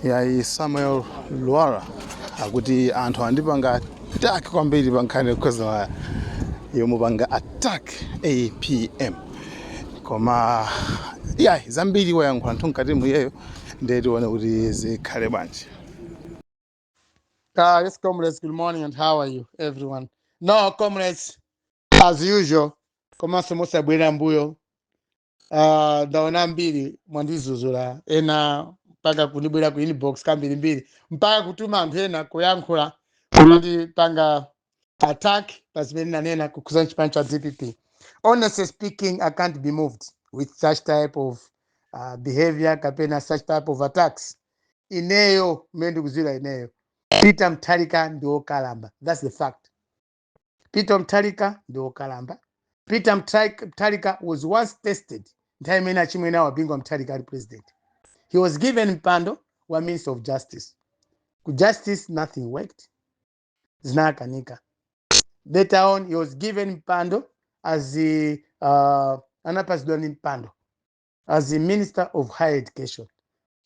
yayi samuel lwara akuti anthu andipanga attack kwambiri pa nkhani yokhudzana yomupanga attack apm koma yayi zambiri wayankhula anthu mkati muyeyo ndiye tione kuti zikhale bwanji Uh, yes, comrades, good morning and how are you, everyone? No, comrades, as usual, komanso mosabwera mbuyo Ah, ndaona ambiri mwandizuzula ena mpaka kundibwera ku inbox kambirimbiri mpaka kutuma anthu ena kuyankhula kumandipanga attack pa zimene nanena kukhuza chipani cha dpp honestly speaking i can't be moved with such type of uh, behavior kapena such type of attacks ineyo mmene ndikuziwira ineyo peter Mutharika ndi wokalamba that's the fact Peter Mutharika ndi okalamba peter Mtha- Mutharika was once tested nthawi imene achimwene awo a Bingu wa Mutharika ali president he was given mpando wa minister of justice ku justice nothing worked zinakanika later on he was given mpando as the, uh, anapatsidwa ndi mpando as the minister of higher education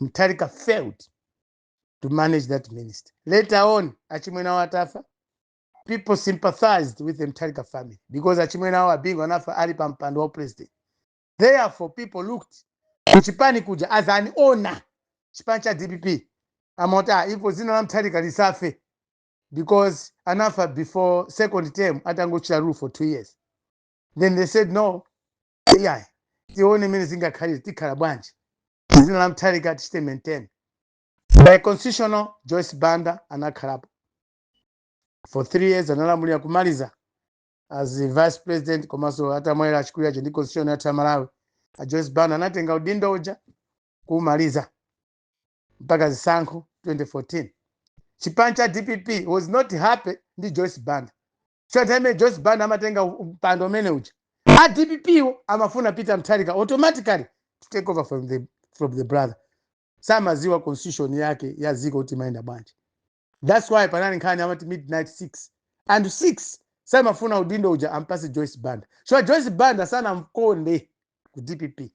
Mutharika failed to manage that minister later on achimwene awo atafa people sympathized with the Mutharika family because achimwene awo a Bingu anafa ali pa mpando wa upresident. Therefore, people looked kuchipani kuja as an owner chipani cha DPP amati ah, ipo dzina la Mutharika lisafe because anafa before second term atangochita rule for two years. Then they said no, yeah, tione imene zingakhalire tikhala bwanji dzina la Mutharika tichite maintain by constitutional Joyce Banda anakhalapo for three years analamulira kumaliza as the vice president komanso atamwalira achikulu aja ndi constitution yathu ya malawi a joyce banda anatenga udindo uja kuumaliza mpaka zisankho 2014 chipani cha dpp was not happy ndi joyce banda cho nthawi imene joyce banda amatenga u- mpando umene uja a dppwo amafuna peter Mutharika automatically to take over from the, from the brother samaziwa constitution yake ya dziko kuti imayenda bwanji thats why panali nkhani amati midnight 6 anthu 6 samafuna udindo uja ampatse joyce banda chifukwa joyce banda sanamkonde ku dpp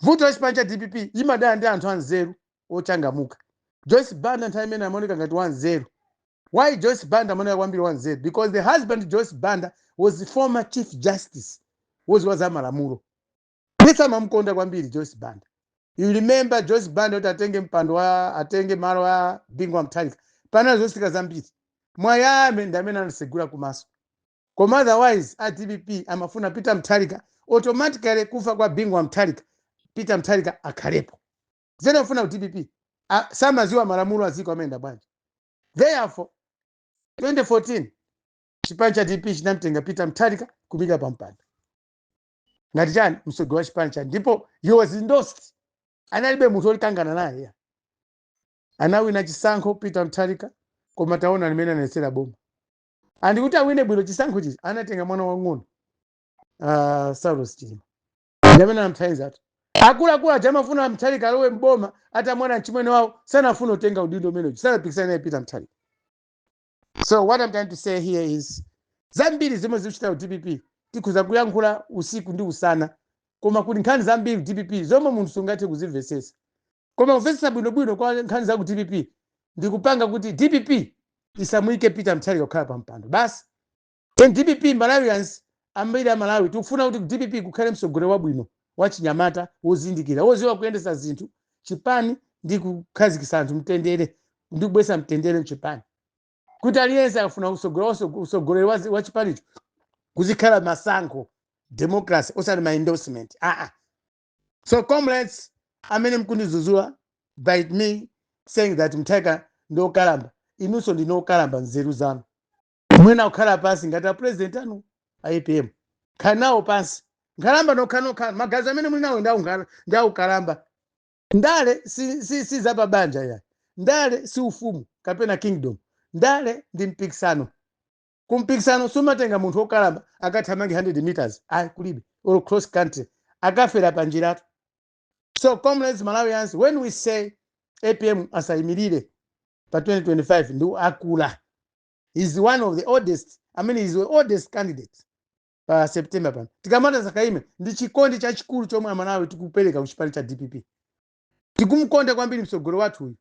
vuto la chipani cha dpp imadana ndi anthu anzeru ochangamuka joyce banda nthawi imene amaoneka ngati wanzeru why joyce banda amaoneka kwambiri wanzeru because the husband joyce banda was the former chief justice woziwa za malamulo Ndithu amamkonda kwambiri Joyce Banda. You remember Joyce Banda kuti atenge mpando wa atenge malo a Bingu wa Mutharika. Panali zosika zambiri. Mwayame ndi amene anasegula kumaso. Koma otherwise a DPP amafuna Peter Mutharika automatically kufa kwa Bingu wa Mutharika. Peter Mutharika akhalepo. Zimene amafuna ku DPP a- samadziwa malamulo a dziko amayenda bwanji. Therefore 2014 chipani cha DPP chinamtenga Peter Mutharika kumuika pa mpando. ngati chani mtsogoleri wa chipani chake ndipo he was endorsed analibe munthu olikangana naye ya. anawina chisankho peter mutharika koma taona mmene anayendetsera boma and kuti awine bwino chisankho chija anatenga mwana wang'ono uh, saulos chilima ndamene anamthandiza anthu akuluakulu aja amafuna amutharika alowe mboma ati atamwalira mchimwene wawo sanafuna utenga udindo umenewu sanapikisana naye peter mutharika so what i'm trying to say here is zambiri zomwe zikuchitika ku dpp tikhoza kuyankhula usiku ndi usana koma kuli nkhani zambiri ku dpp zomwe munthu sungathe kuzimvesesa koma kumvesesa bwinobwino kwa nkhani za ku dpp ndikupanga kuti dpp isamuyike peter mutharika kukhala pa mpando basi Ku dpp Malawians ambiri a Malawi tikufuna kuti ku dpp kukhale mtsogoleri wabwino, wachinyamata, wozindikira, wodziwa kuyendetsa zinthu, chipani ndi kukhazikitsa anthu mtendere ndi kubweretsa mtendere mchipani. Kuti aliyense akafuna kutsogolera waso- utsogoleri wa zi- wa chipanicho kuzikhala masankho democracy osati ma endorsement. Ah ah. So comrades amene mukundidzudzula by me saying that Mutharika ndi okalamba, inunso ndinu okalamba nzeru zanu. muyenera kukhala pansi ngati apresident anu a apm kukhala nawo pansi nkhalamba nokhanokha magazi amene muli nawo ndi a unkhala- ndi aukalamba ndale si, si, si za pabanja ya ndale si ufumu kapena kingdom ndale ndi mpikisano kumpikisano sumatenga munthu wokalamba akathamange 100 meters ayi kulibe or cross country akafera pa njiratu so comrades malawians when we say apm asayimirire pa 2025 ndi akulu he is one of the oldest i mean he is the oldest candidate pa september pano tikamati asakaime ndi chikondi chachikulu chomwe amalawi tikupereka ku chipani cha dpp tikumukonda kwambiri mtsogoleri wathu uyu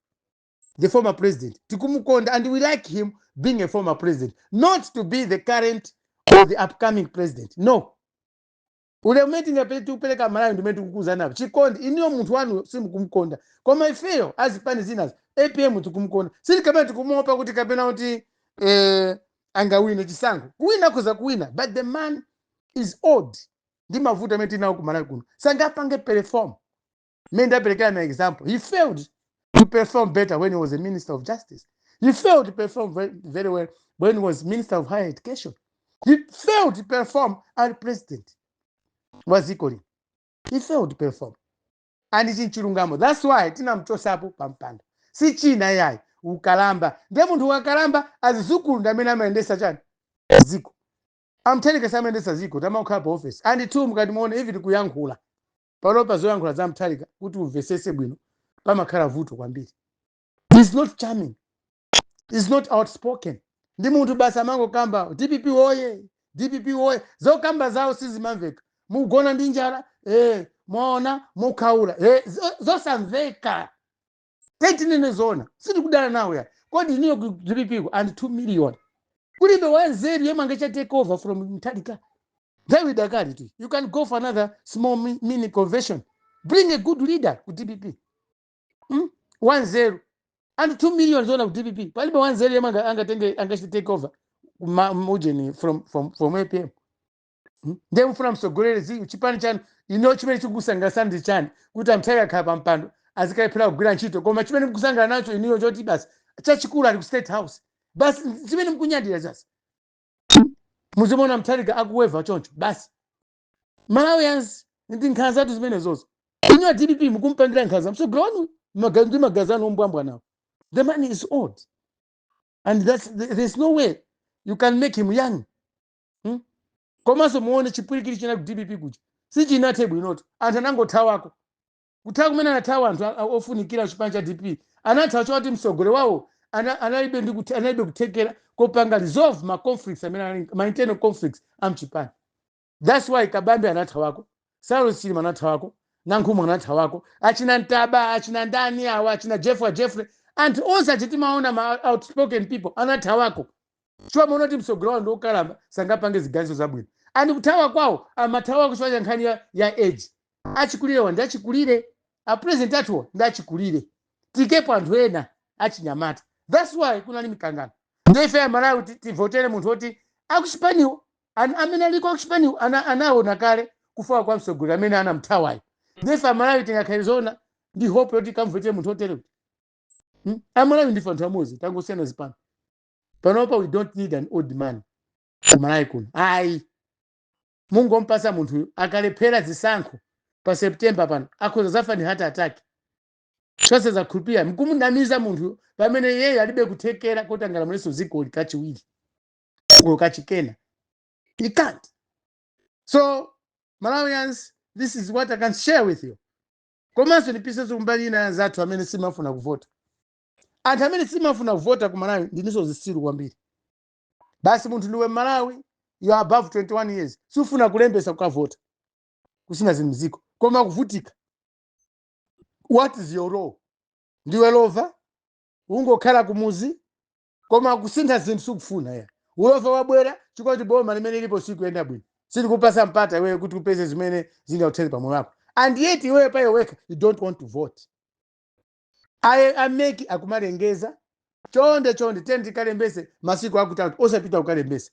the former president tikumukonda and we like him being a former president not to be the current or the upcoming president no ulemu umene tingapere tikupereka amalawi ndi umene tikukuuzanapo chikondi inuyo munthu wanuyo simukumkonda koma ifeyo azipani zinazo apm tikumkonda sikuti kapena tikumuopa kuti kapena kuti eh, angawine chisankho kuwina akhoza kuwina but the man is old ndi mavuto amene tinawo kumalawi kuno sangapange perform mmene ndaperekera ma example he failed to perform better when he was a minister of justice he failed to perform ve- very well when he was minister of higher education he failed to perform ali president wa dziko lino he failed to perform and ichi nchilungamo that's why tinamchosapo pa mpando si china yayi ukalamba ndiye munthu wakalamba azizukulu ndi amene amayendesa chani dziko I'm telling you samayendesa dziko samakhala pa office and two mukati muone even kuyankhula palo pa zoyankhula za Mutharika kuti umvesese bwino pamakhala vuto kwambiri he's not charming he's not outspoken ndi munthu basi amangokamba dpp woye dpp woye zokamba zawo sizimamveka mugona ndi njala eh, mwaona mukhaula eh, zo- zosamveka Tiyeni tinene zoona, sitikudana nawo ya. Kodi inuyo ku dpp kuli 2 million. Kulibe wanzeru yemwe angachite take over from Mutharika. Nthawi idakali tu. You can go for another small mi- mini convention. Bring a good leader ku dpp. Hmm? Wanzeru. And 2 million zona ku dpp. Palibe wanzeru yemwe anga- angatenge angachite take over ma- mujeni from from from APM. Hmm? ndiye mufuna msogoleri zi- chipani chanu ino chimene chikukusangalasani ndi chani kuti a Mutharika akhala pa mpando azikalephera kugwira ntchito koma chimene mukusangala nacho inuyo choti basi chachikulu ali ku state house basi chimene mukunyadira basi muzimaona Mutharika akuweva choncho basi malawians ndi nkhanzatu zimenezozo inuyo dpp mukumpangira nkhanza msogoleri wanu maga- ndi maganizo anu ombwambwanawo the man is old and that's, there's no way you can make him young hmm? komanso muone chipwirikiti china ku dpp kuja sichinathe bwinotu anthu anangothawako kuthawa kumene anathawa anthu a- a- ofunikira chipani cha dpp anathawa choti mtsogoleri wawo ana- analibe ndi kuthe- analibe kuthekera kopanga resolve ma conflicts amene anali- ma internal conflicts amchipani that's why kabambe anathawako saulos chilima anathawako nankhumwa anathawako achina ntaba achina ndani awa achina jeffrey jeffrey anthu onse oti timaona ma outspoken people anathawako chifukwa amaona kuti mtsogoleri wawo ndi wokalamba sangapange ziganizo zabwino and kuthawa kwawo amathawa chifukwa cha nkhani ya, ya age achikulirewa ndi achikulire apresident athuwa ndi achikulire tikepo anthu ena achinyamata thats why kunali mikangano nde ife amalawi ti- tivotere munthu woti akuchipaniwo an- amene aliko akuchipaniwo ana- anaona kale kufowoka kwa mtsogoleri amene anamthawayo nde ife amalawi tingakhale zoona ndi hope yoti kamvotere munthu wotere Hmm? amalawi ndife anthu amodzi tangosiyana zipani panopa we don't need an old man ku malawi kuno ayi mungompasa munthuyu akalephera zisankho pa september pano akhoza zafa ndi heart attack zonse zakhulupirira mkumunamiza munthu pamene yeyo alibe kuthekera kuti angalamulenso dzikoli kachiwiri olo kachikena he can't so malawians this is what i can share with you komanso ndipitenso kumbali ina ya anzathu amene simafuna kuvota anthu amene simafuna kuvota ku malawi ndinuso zisiru kwambiri basi munthu ndiwe mmalawi you are above 21 years sufuna kulembesa kukavota kusintha za mziko koma kuvutika what is your role ndiwe lova ungokhala kumuzi koma kusintha zinthu sukufuna ya ulova wabwera chifukwa choti boma limene lilipo sikuyenda bwino silikupasa mpata iweyo kuti upeze zimene zingakuthere pamoyo wako and yet iweyo pa iwe wekha you don't want to vote aye a mec akumalengeza chonde chonde tiyeni tikalembese masiku akuthatu osapita kukalembesa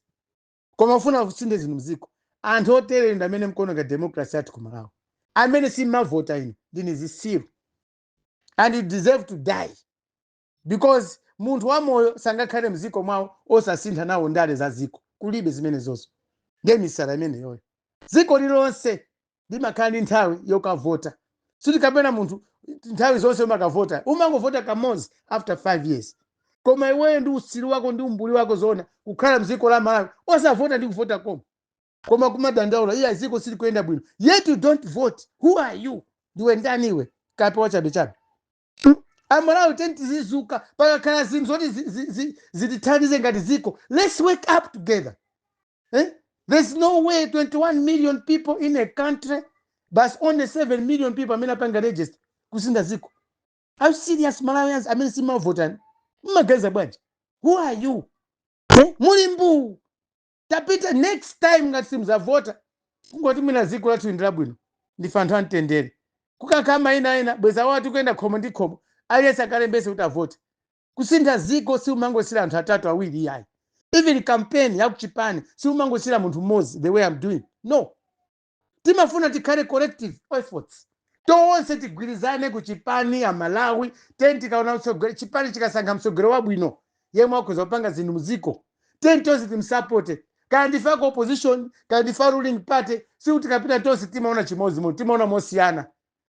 koma ufuna kusinthe zinthu mziko anthu otere ndi amene mkuononga democracy yathu ku malawi amene simavota inu ndinu zisiru and you deserve to die because munthu wamoyo sangakhale mziko mwawo osasintha nawo ndale za ziko kulibe zimenezozo ndiye misala imeneyoyo ziko lilonse limakhala ndi nthawi yokavota sikuti kapena munthu nthawi zonse umakavota umangovota kamodzi after five years koma iweyo ndi utsiru wako ndi umbuli wako zoona kukhala mdziko la malawi osavota ndi kuvota koma koma kumadandaula iya dziko silikuyenda bwino yet you don't vote who are you ndiwe ndani iwe kape wachabechabe amalawi tiyeni tizizuka pakakhala zinthu zoti zi- zi- zi- zitithandize ngati dziko let's wake up together Eh? There's no way 21 million people in a country, but only 7 million people amene apanga register kusintha dziko. Are you serious Malawians amene simavota inu? Mmaganiza bwanji? Who are you? Eh? Muli mbuu. Tapita next time ngati simuzavota. Kungoti mwina dziko lathu ndi labwino. Ndife anthu amtendere. Kukakhala mayiko ena bweza anthu akuyenda khomo ndi khomo. Aliyense akalembetse kuti avote. Kusintha dziko siumangosiira anthu atatu awiri iyayi. Even campaign ya kuchipani siumangosiira munthu mmodzi the way I'm doing no. Timafuna tikhale collective efforts. Tonse tigwirizane ku chipani a Malawi tiyeni tikaona utsogoleri chipani chikasankha mtsogoleri wabwino yemwe akhoza kupanga zinthu mdziko tiyeni tonse timsapote kaya ndife aku opposition kaya ndife a ruling party sikuti tikapita tonse timaona chimodzimodzi timaona mosiyana.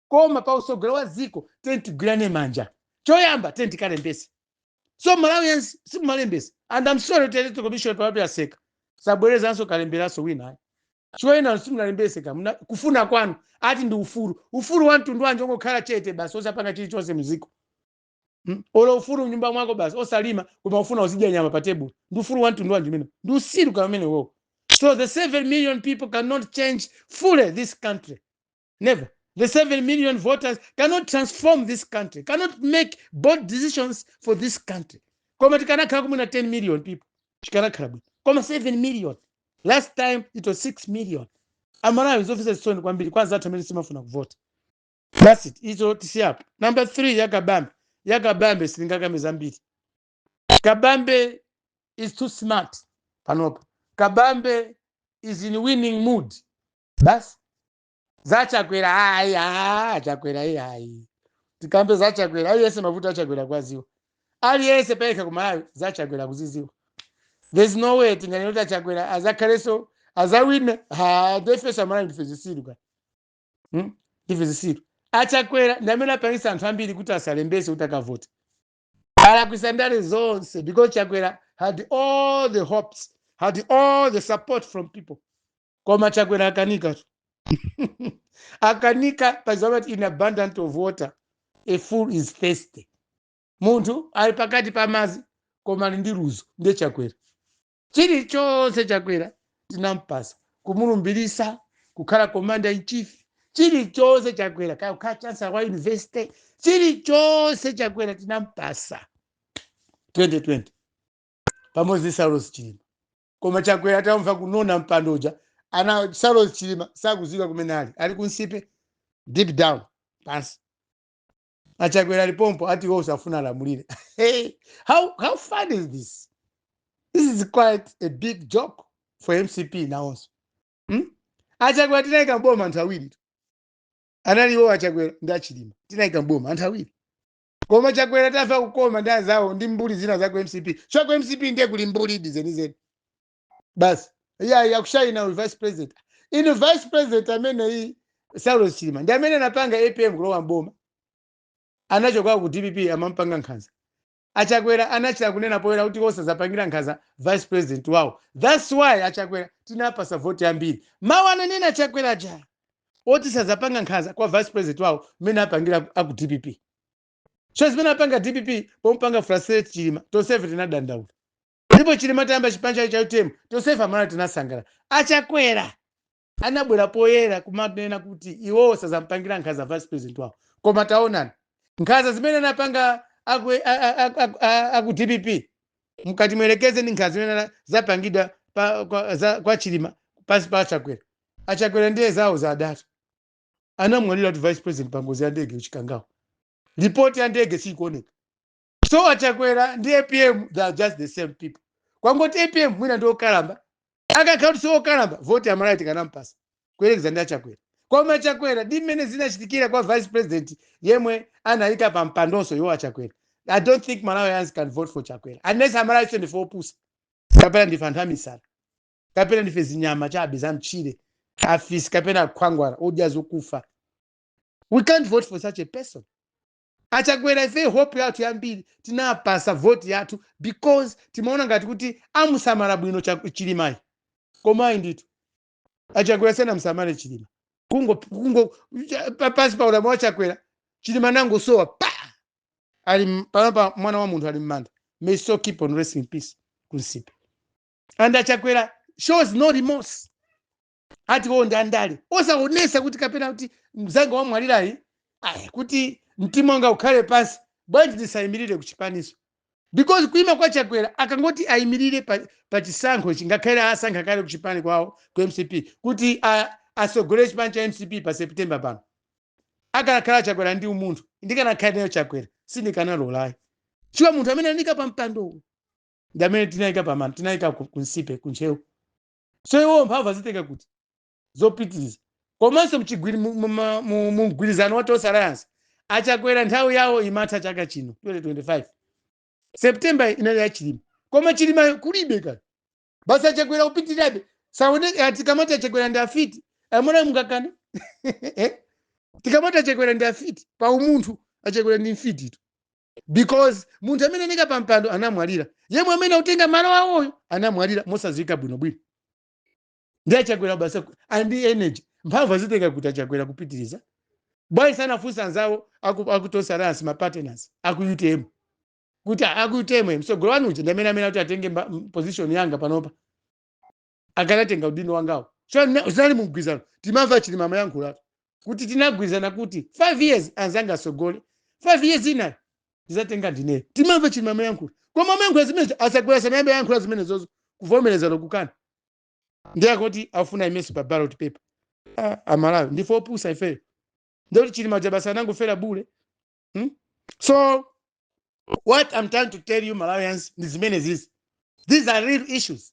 koma pa usogolo wa dziko tiyeni tigwirane manja choyamba tiyeni tikalembese so malawians simunalembese and am sorry kuti electoral commission panopa yaseka sabwerezanso kalemberanso wina ayi chifukwa ena simunalembese kamba kufuna kwanu ati ndi ufulu ufulu wa mtundu wanji ongokhala chete basi osapanga chilichonse mziko Mm, olo ufulu mnyumba mwako basi osalima koma ufuna uzidya nyama pa tebulo ndi ufulu wa mtundu wanji umene ndi usiru ka umenewo so the 7 million people cannot change fully this country Never. The 7 million voters cannot transform this country, cannot make bold decisions for this country. Koma tikanakhala kumwina 10 million people. Tikanakhala bwino. Koma 7 million. Last time it was 6 million. Amalawi zofisa zisoni kwambiri kwa anzathu amene simafuna kuvota. That's it. Izo tisiyapo. Number 3 ya Kabambe. Ya Kabambe sitingakambe zambiri. Kabambe is too smart panopa. Kabambe is in winning mood. basi za chakwera ayi achakwera ayi sitikamba za chakwera aliyense mavuto achakwera akuwaziwa aliyense payekha kumalawi za chakwera akuziziwa there's no way tinganena kuti achakwera azakhalenso azawine ha ndifeso amalawi ndife zisiru ka Hmm? ndife zisiru achakwera ndi amene apangisa anthu ambiri kuti asalembese kuti akavote alakwisa ndale zonse because chakwera had all the hopes had all the support from people koma chakwera akanikatu akanika paja amati in abundance of water a fool is thirsty munthu ali pakati pa madzi koma ali ndi luzu ndiye chakwera Chilichonse Chakwera tinampasa, kumulumbirisa, kukhala commander in chief, chilichonse Chakwera, kaya kukhala chancellor wa university, chilichonse Chakwera tinampasa 2020 pamodzi ndi Saulos Chilima. Koma Chakwera atamva kunona mpando uja, ana Saulos Chilima sakuziwika kumene ali, ali kunsipe deep down pansi. achakwera ali pompo ati iwoso afuna alamulire hey, how, how funny is this this is quite a big joke for mcp nawonso hmm? achakwera tinayika mboma anthu awiritu anali iwo achakwera ndi achilima tinayika mboma anthu awiri koma chakwera atamva kukoma ndi azawo ndi mbuli zina za ku mcp chifukwa ku mcp ndiye kuli mbuli zenizeni basi iya yakushainira uyu vice president inu vice president ameneyi saulos chilima ndi amene anapanga apm kulowa mboma anachoka ku dpp amampanga nkhanza achakwera anachita kunena poyera kuti sazapangira nkhanza vice president wawo thats why achakwera tinawapasa voti yambiri mawu ananena achakwera aja oti sazapanga nkhanza kwa vice president wawo mmene anapangira aku dpp so zimene anapanga dpp pomupanga frustrate chilima tonsefe tinadandaula ndipo chilima atayamba chipani chake cha utm tonsefe amalawi tinasangala achakwera anabwera poyera kumanena kuti iwowo sazampangira nkhanza vice president wawo koma taonani nkhanza zimene anapanga aku, a- a- a- a- a- aku dpp mkati muyerekeze ndi nkhanza zimene ana- zapangidwa pa, kwa, za, kwa chilima pansi pa achakwera achakwera ndiye zawo zadatu anamwaliratu vice president pangozi ya ndege ku chikangawa ripoti ya ndege siikuoneka so achakwera ndi apm they are just the same people kwangoti apm mwina ndi okalamba akakhala kuti si okalamba voti amalawi tikanampasa kuyerekeza ndi achakwera koma achakwera ndi mmene zinachitikira kwa vice president yemwe anayika pa mpandonso iwo achakwera i don't think malawians can vote for chakwera unless amalawi ife ndife opusa kapena ndife anthu amisala kapena ndife zinyama chabe za mtchire afisi kapena akhwangwala odya zokufa we can't vote for such a person Achakwera ifeyo hope yathu yambiri tinawapasa vote yathu because timaona ngati kuti amusamala bwino Chak- chilimayi koma ayi ndithu achakwera sanamusamale chilima kungo kungo cha- pa- pansi pa ulamuliro wa chakwera chilima nangosowa pa ali m- panopa mwana wa munthu ali mmanda may his soul keep on resting in peace ku nsipe and achakwera shows no remorse ati iwo ndi andale osaonesa kuti kapena kuti mzanga wamwalirayi ayi kuti mtima wanga ukhale pansi bwanji ndisayimirire kuchipaniso because kuima kwa chakwera akangoti ayimirire pa, pa chisankho chingakhale asankha kale kuchipani kwawo ku mcp kuti a- asogolere chipani cha mcp pa september pano akanakhala chakwera ndi umunthu ndikanakhala ineyo chakwera sindikanalolayi chifukwa munthu amene anayika pa mpandowo ndi amene tinayika pamanda tinayika ku ku nsipe ku ntcheu so iwo mphamvu azitenga kuti zopitiriza komanso mchigwiri- mu- mu- ma- mu- mu mgwirizano wa tonse alliance achakwera nthawi yawo imatha chaka chino 2025 septemba inali ya chilima koma chilima kulibe kale basi achakwera kupitirabe saoneke tikamati achakwera ndi afiti amwene mungakane tikamati achakwera ndi afiti pa umunthu achakwera ndi mfititu because munthu amene anayika pa mpando anamwalira yemwe amene akutenga malo awoyo anamwalira mosadziwika bwinobwino ndi achakwera basi aku- and energy mphamvu azitenga kuti achakwera kupitiriza bwanji sanafunsa anzawo aku- aku tonse alliance mapartners aku utm kuti "Ah, aku utm mtsogoleri wanu uja ndi amene amene akuti atenge mba- m- position yanga panopa akanatenga udindo wangawo so na- zinali mumgwirizano timamva chilima amayankhula kuti tinagwirizana kuti five years anzanga asogole five years ina ndizatenga ndineyo timamva chilima amayankhula koma amayankhula zimenezo achakwera sanayambe ayankhula zimenezo zo kuvomereza olo kukana ndiye akuti akufuna aimenso pa ballot paper Ah, amalawi ndife opusa ifeyo ndikuti chilima ja basi anangofera bule Hmm? So what I'm trying to tell you Malawians ndi zimene zizi. These are real issues.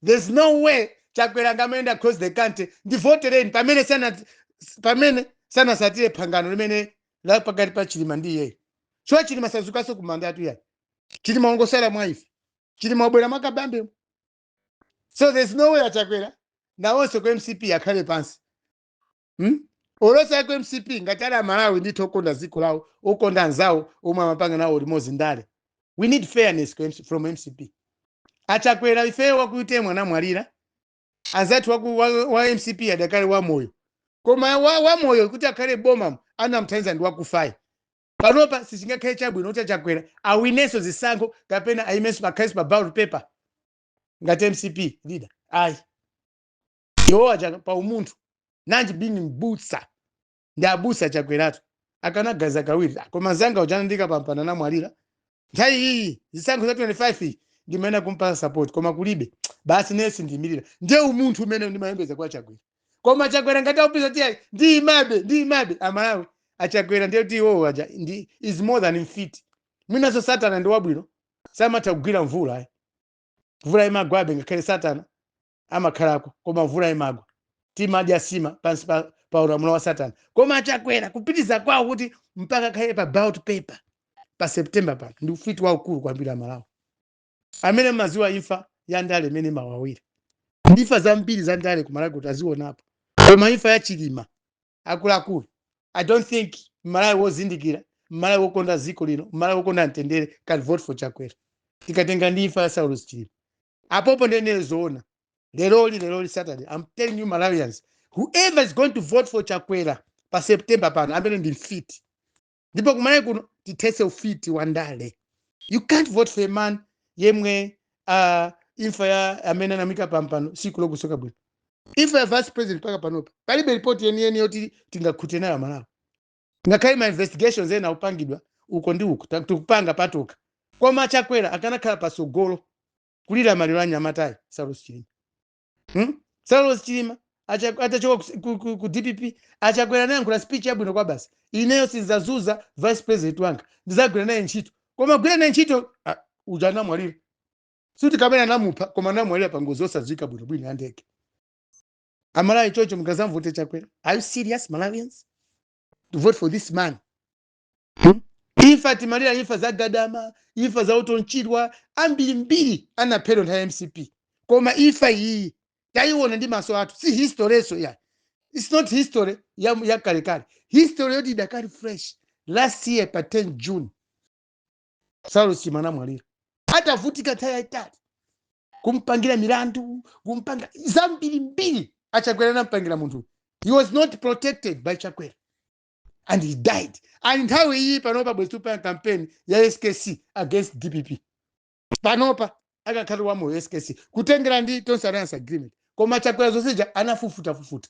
There's no way Chakwera angamayenda across the country ndivotereni pamene sana pamene sanasatire phangano limene la pakati pa Chilima ndi iyeyo. Chifukwa Chilima sazukanso kumandatu ayi. Chilima wangosala mwa ife. Chilima wabwera mwa Kabambe. So there's no way Chakwera ndi onse ku MCP akhale pansi. hmm? onse ku mcp ngati ali amalawi ndithu okonda dziko lawo okonda anzawo omwe amapanga nawo limodzi ndale we need fairness ku MC from mcp achakwera ifeyo waku utm anamwalira anzathu waku, wa, wa mcp adakali wamoyo koma wa, wamoyo kuti akhale boma anamthandiza ndi wakufayu panopa sichingakhale chabwino kuti achakwera awinenso zisankho kapena ayimenso pakhalenso pa ballot paper ngati mcp leader ayi iwo aja pa umunthu nanji being mbusa ndi abusa achakweratu akanaganiza kawiri koma mnzanga uja anandiika pampando anamwalira nthawi iyi zisankho za 25 iyi ndimayenera kumpasa support koma kulibe basi ine sindiyimirira ndiye umunthu umene ndimayembekeza kwa chakwera koma chakwera ngati akupeza kuti ayi ndiyimabe ndiyimabe amalawi achakwera ndiye kuti iwowo aja ndi is more than mfiti mwinanso satana ndi wabwino samatha kugwira mvula ayi mvula imagwabe ngakhale satana amakhalako koma mvula imagwa timadya nsima pansi pa, pa ulamuliro wa satana koma achakwera kupitiza kwawo kuti mpaka akhale pa ballot paper pa september pano ndi ufiti waukulu kwambiri amalawi amene amadziwa imfa ya ndale mmene imawawira ndi imfa zambiri za ndale kumalawi kuno tazionapo koma imfa ya chilima akuluakulu i don't think mmalawi wozindikira mmalawi wokonda dziko lino mmalawi wokonda mtendere can vote for chakwera tikatenga ndi imfa ya saulos chilima apopo ndinene zoona leroli leroli saturday i'm telling you malawians whoever is going to vote for chakwera pa september pano amene ndi mfiti ndipo kumalawi kuno tithetse ufiti wa ndale you can't vote for a man yemwe uh, imfa ya amene anamuika pampando siikulongosoka bwino imfa ya vice president mpaka panopa palibe ripoti yeniyeni yoti tingakhutire nayo amalawi ngakhale ma investigations ena akupangidwa uko ndi uko ta- tikupanga patokha koma chakwera akanakhala patsogolo kulira maliro a mnyamatayu saulos chilima hmm? saulos chilima acha- atachoka ku, ku, ku, ku dpp achakwera anayankhula speech yabwino kwabasi ineyo sindizazunza vice president wanga ndizagwira naye ntchito koma gwira naye ntchito ah, uja anamwalira sitikunena anamupha koma anamwalira pa ngozi yosadziwika bwinobwino ya ndege amalawi choncho mukazamvote chakwera are you serious malawians to vote for this man hmm? imfa timalira imfa za gadama imfa za utonchidwa ambirimbiri anaphedwa nthawi ya mcp koma imfa iyiyi tayiona ndi maso athu si historyso ya its not history ya, ya kalekale history yoti idakali fresh last year pa 10 june saulos chilima anamwalira atavutika nthawi yayitali kumpangira milandu kumpanga zambirimbiri achakwera anampangira munthu he was not protected by chakwera and he died and nthawi iyi panopa bwezi tupanga campaign ya skc against dpp panopa akakhala wamoyo skc kutengera ndi tonse alliance agreement koma chakwera zonse zija anafufutafufuta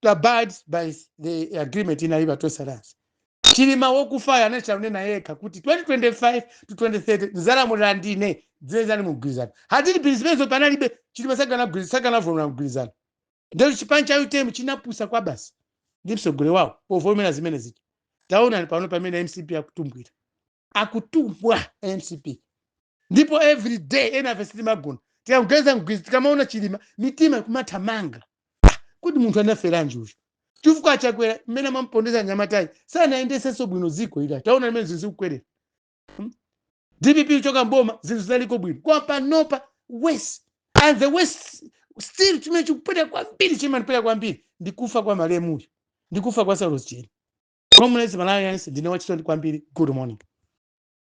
to abide by the agreement inali pa tonse alliance chilima wokufayo anachita kunena yekha kuti 2025 to 2030 ndizalamulira ndine zinali mumgwirizano hadili bili zimenezo panalibe chilima sakanagwirizana sakanavomera mgwirizano ndiye chipani cha utm chinapusa kwabasi ndi mtsogoleri wawo povomera zimenezi taonani pano pamene mcp akutumbwira akutumbwa a mcp ndipo every day ena afe sitimagona tikageza mgwizi tikamaona chilima mitima ikumathamanga Ah, kodi munthu anaferanji uyu chifukwa chakwera mmene amampondereza mnyamatayi sanayendesenso bwino dziko ili taonani mmene zinthu zikukwerera Hmm? dpp uchoka mboma zinthu zinaliko bwino koma panopa worst and the worst still chimene chikupweteka kwambiri chimanipweteka kwambiri ndi kufa kwa malemuyo ndi kufa kwa saulos chilima comrades malawians ndine wachisoni kwambiri good morning